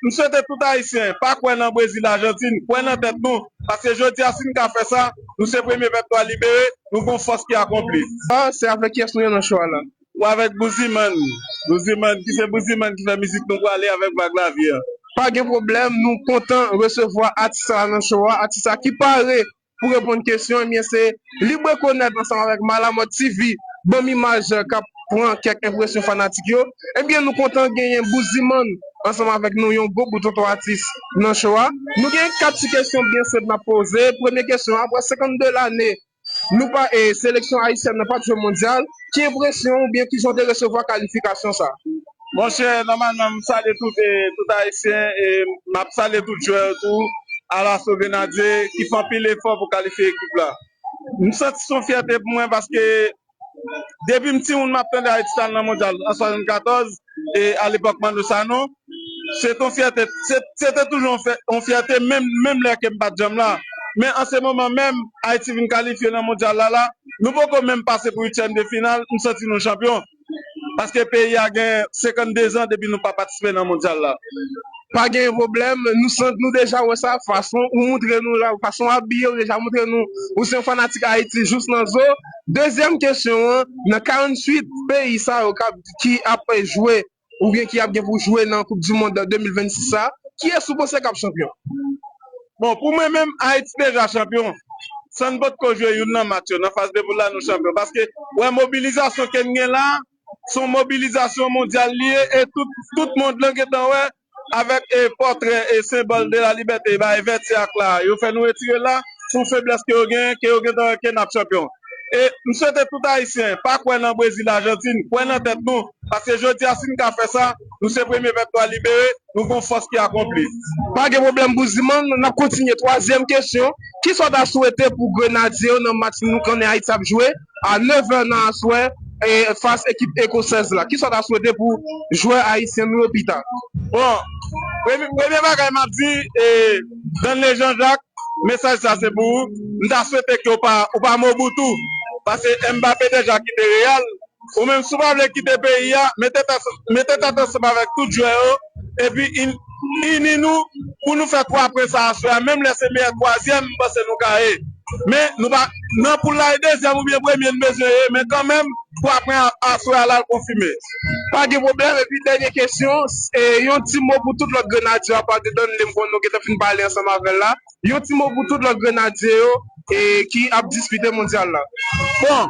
M swete tout Ayisyen pa kwè nan Brezil Ajantin, kwè nan tèt nou, paske jodi a si n ka fè sa, nou se premye pèp nwa libere, nou gon fòs ki akonpli. Ahh se avèk kiyès nou ye nan show a la? Ou avèk Bouzimann, Bouzimann ki se Bouzimann ki fè mizik nou pwale avèk Vag Lavi an. Pa gen pwoblèm, nou kontan resevwa atis sa a nan show a, atis sa a ki pare Pou reponn kesyon ebyen se Libre Konèt ansanm avèk Malamòt TV banm imaj kap pran kèk enpresyon fanatik yo ebyen nou kontan genyen Bouzimann ansanm avèk nou yon gwo bout tonton atis nan cho a nou gen 4 ti kesyon byen senp nap poze premye kesyon aprè 52 lane nou pa seleksyon ayisyèn nan pat jwe mondyal ki enpresyon ou byen kijan w te resevwa kalifikasyon sa. Monchè nòmalman m salye tout tout ayisyen e m ap salye tout jwè yo tou Alaso Grenadye ki fè anpil efò pou kalifye ekip la. M santi s on fyète pou mwen paske depi m timoun m ap tande Ayiti t al nan Mondyal an 74 e alepòk Manno Sanon se t on fyète se te toujou on fyète menm menm lè ke m pa t janm la men an se moman menm Ayiti vin kalifye nan Mondyal la la nou poko menm pase pou uityèm de final m santi nou chanpyon. paske peyi a gen 52 zan depi nou pa patisipe nan mondyal la. Pa gen pwoblèm, nou san nou deja wè sa, fason ou moutre nou la, fason w abiye ou deja moutre nou ou se yon fanatik Ayiti jous nan zo. Dezyèm kesyon an, nan 48 peyi sa yo kap ki ap jwe oubyen ki ap gen pou jwe nan koupdimond 2026 sa, kiyès ou panse kap chanpyon? Bon pou mwen menm Haiti deja chanpyon san n potko jwe youn nan match yo nan faz de poul la nou chanpyon paske ou wè mobilizasyon ke n gen la son mobilizasyon mondyal li ye e tout mond lan gentan wè avèk pòtrè e senbòl de la libète e bay vèt se ak la yo fè nou retire l la pou feblès ke yo genyen ke yo gentan wè ke n ap chanpyon e m swete tout Ayisyen pa kwè nan Brezil Ajantin kwè nan tèt nou paske jodi a si n ka fè sa nou se premye pèp nou al libere. Nou gon fòs ki akonpli. Pa gen pwoblèm Bouzimann, n ap kontinye. Twazyèm kesyon, Ki sa w ta swete pou Grenadye yo nan match nou konnen Ayiti ap jwe a nevè nan aswè fas ekip ekosèz la? Ki sa w ta swete pou jwè ayisyen nou yo pita? Bon, premye bagay m ap di Danley Jean Jacques, mesaj sa se pou ou. M ta swete ke ou pa Mobutu, paske Mbappé deja kite Real, Ou menm si w pa vle kite peyi a, mete tèt ansanm avèk tout jwè yo epi ini nou pou nou fè 3 pwen sa aswè a, menm lè se meyè twazyèm m panse nou ka ye. Men nou pa nan poul la e dezyèm oubyen premye n bezwen ye men kanmenm 3 pwen aswè a la l konfime. Pa gen pwoblèm, epi dènye kesyon, yon ti mo pou tout lòt Grenadye yo apa Dedon Lemkon nou gentan fin pale ansanm avè l la. Yon ti mo pou tout lòt grenadye yo ki ap dispite mondyal la. Bon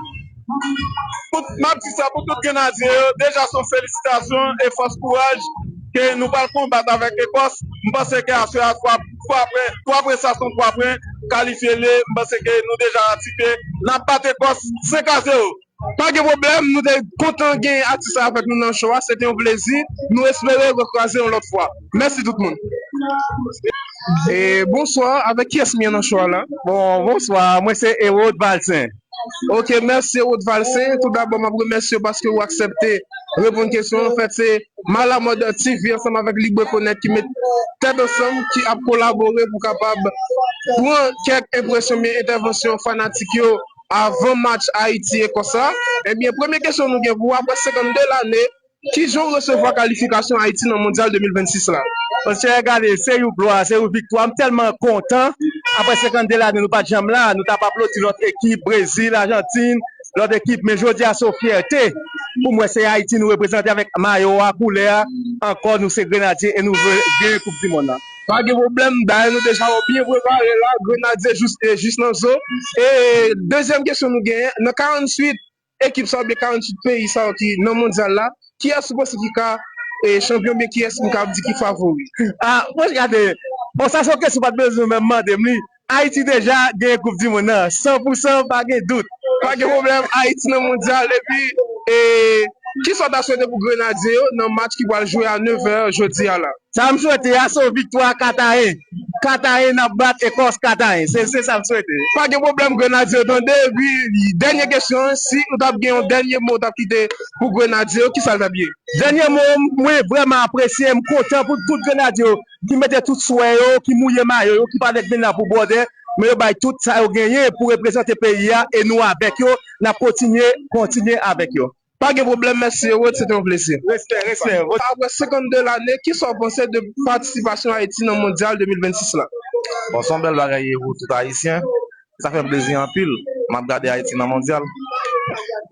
m ap di sa pou tout grenadye yo, deja se yon felisitasyon e fòs kouraj ke nou pral konbat avèk Ekòs. M panse ke aswè a 3 pwen, 3 pwen sa son 3 pwen kalifye l ye. M panse ke nou deja ratifiye n ap bat Ekòs 5 a 0. Pa gen pwoblèm, nou te kontan gen atis la avèk nou nan show a, se te yon plezi, nou espere rekwaze yon lòt fwa. Mèsi tout moun. Bonswa, avèk kiyès m ye nan show a la? Bonswa, mwen se Erod Valcin. Ok, mèsi Erod Valcin. Tout dabò m ap remèsye w paske ou aksèpte reponn kesyon. Anfèt, se Malamòd TV ansanm avèk LibRekonèt ki met tèt ansanm, ki ap kolabore pou kapab pran kèk enpresyon oubyen entèvansyon fanatik yo. avan match Ayiti-Ekòs la, ebyen premye kesyon nou gen pou ou aprè 52 lane, kijan ou resevwa kalifikasyon Ayiti nan Mondyal 2026 la? Mesye gade se you glwa, se you viktwa, m tèlman kontan, aprè 52 lane nou pat janm la, nou tap aplodi lòt ekip, Brezil, Ajantin, lòt ekip, men jodi a se yon fyète pou m wè se Ayiti nou reprezante avèk mayo a, koulè a, ankò nou se Grenadye e nou vle gen koup di monn nan. Pa gen pwoblèm, dayè nou deja yo byen prepare la, Grenadye jous e jis nan zo. E dezyèm kesyon nou genyen, nan 48 ekip sa yo oubyen 48 peyi sa yo ki nan mondyal la, kiyès ou panse ki ka chanpyon oubyen kiyès nou kab di ki favori? Ah, mwen gade, bon sa se yon kesyon ou pa t bezwen menm mande m li. Ayiti deja gen koup di mond nan san pou san pa gen dout. Pa gen pwoblèm Ayiti nan mondyal epi kisa w ta swete pou grenadye yo nan match ki pral jwe a 9 è jodi a la? Sa m swete a se yon viktwa 4 a 1, 4 a 1 n ap bat Ekòs 4 a 1 se sa m swete. Pa gen pwoblèm grenadye yo tande epi dènye kesyon an si ou ta gen yon dènye mo ou ta kite pou grenadye yo kisa l t ap ye? Dènye mo m mwen vrèman apresye m kontan pou tout grenadye yo ki mete tout swè yo, ki mouye mayo yo, ki pa nèg menna pou bwòdè, men yo bay tout sa yo genyen pou reprezante peyi a e nou avèk yo, n ap kontinye, kontinye avèk yo. Pa gen pwoblèm, mèsi Herode, se te yon plezi. Respè, respè. Apre 52 lane, ki sa w panse de patisipasyon Ayiti nan Mondyal 2026 la? Bon, se yon bèl bagay Herode, tout Ayisyen, sa fèm plezi anpil map gade Ayiti nan mondyal.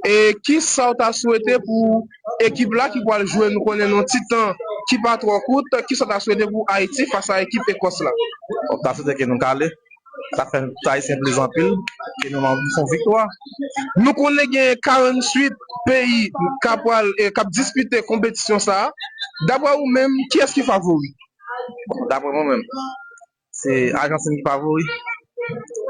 E kisaw ta swete pou ekip la ki pwal jwe nou konnen nou ti tan ki pa twò kout kisaw ta swete pou Ayiti fas a ekip Ekòs la? Bon m ta swete ke nou kale sa fèm tout Ayisyen plezi anpil ke nou nan fon viktwa nou konnen gen 48 peyi ka pwal kap dispite konpetisyon sa daprè ou menm kiyès ki favori? Bon daprè mwen menm Se Ajantin ki favori.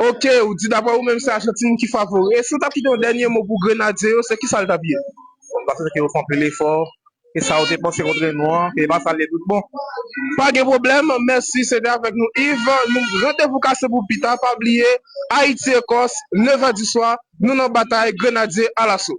Ok, ou di dapre ou menm se Ajantin ki favori. E si ou t ap kite yon dènye mo pou Grenadye yo, se ki sa l t ap ye? Bon, sa se paske yo fè anpil efò, e sa yo te panse kontre nou an, se pa sa l ye toutbon. Pa gen pwoblèm, mèsi. Se te avèk nou Yves. Randevou kase pou pita. Pa bliye, Ayiti-Ekòs, 9 è di swa, nou nan batay, Grenadye alaso!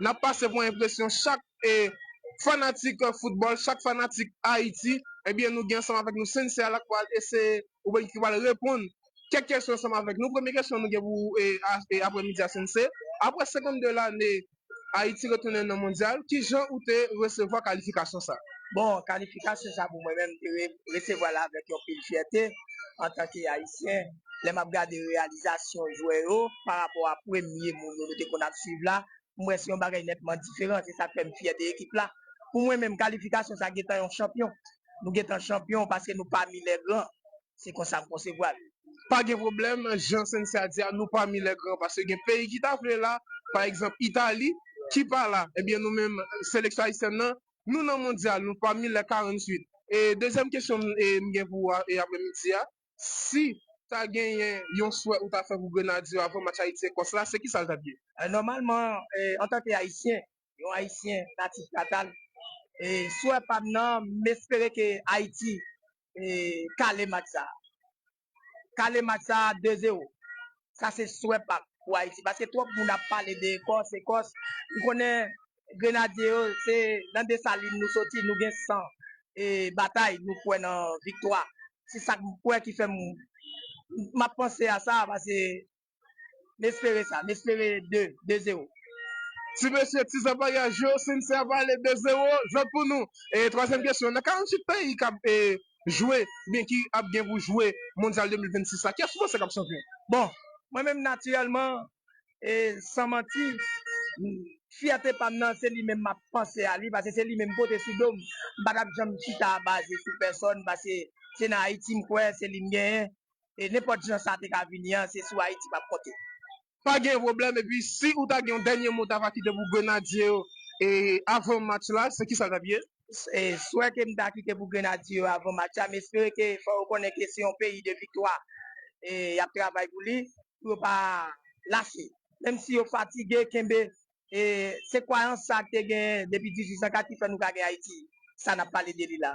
nap pase pou enpresyon chak fanatik foutbòl, chak fanatik Ayiti, ebyen nou gen ansanm avèk nou Sensei a lap pral eseye oubyen ki pral reponn kèk kesyon ansanm avèk nou. Premye kesyon nou gen pou ou apremidi a Sensei, aprè 52 lane Ayiti retounen nan mondyal, kijan ou te resevwa kalifikasyon sa? Bon, kalifikasyon sa pou mwen menm te resevwal avèk yon pil fyète antanke Ayisyen, lè map gade reyalizasyon jwè yo pa rapò a premye moun yo nou te konn ap swiv la, m wè se yon bagay nètman diferan, se sak fè m fyè de ekip la. Pou mwen menm kalifikasyon sa gentan yon chanpyon. Nou gentan chanpyon paske nou pami lè gran. Se konsa m konsevwa l. Pa gen pwoblèm, jan Cynthia di a, nou pami lè gran paske gen peyi ki ta vle la, pa egzanp Itali ki pa la. Ebyen nou menm seleksyon ayisyèn nan, nou nan mondyal, nou pami lè 48. E dezyèm kesyon m gen pou ou apremidi a, si ta genyen yon swè ou ta fè pou Grenadye yo avan match Ayiti-Ekòs la, se kisa l t ap ye? Nòmalman, antanke Ayisyen, yon Ayisyen natif natal, swè pa m nan, m espere ke Ayiti kale match sa a. Kale match sa a 2 zewo. Sa se swè pam pou Ayiti paske twòp moun ap pale de Ekòs, Ekòs. M konnen Grenadye yo se nan Desalin nou soti, nou gen san batay, nou kwè nan viktwa. Se sa m kwè ki fè m m ap panse a sa paske m espere sa, m espere 2, 2 zero. Ti mesye, ti zanbarya, je sinsè pale 2 zero jwèt pou nou. Twazyèm kesyon, nan 48 peyi k ap jwe oubyen ki ap gen pou jwe mondyal 2026 la, kiyès ou panse k ap chanpyon? Bon, mwen menm natirèlman e san manti, fyète pa m nan se li menm m ap panse a li pase se li menm m pote sou do m. M pa t ap janm chita baze sou pèsòn pase se nan Ayiti m kwè, se li m genyen e nenpòt jan sa te ka vini an se sou Ayiti m ap konte. pa gen pwoblèm epi si ou ta gen yon dènye mo ta va kite pou grenadye yo avan match la se kisa l tap ye? Swè ke m ta kite pou grenadye yo avan match la m espere ke fò yo konnen ke se yon peyi de viktwa yap travay pou li pou yo pa lache menm si yo fatige kenbe se kwayans sa te genyen depi 1804 ki fè nou ka gen Ayiti sa nap pale de li la.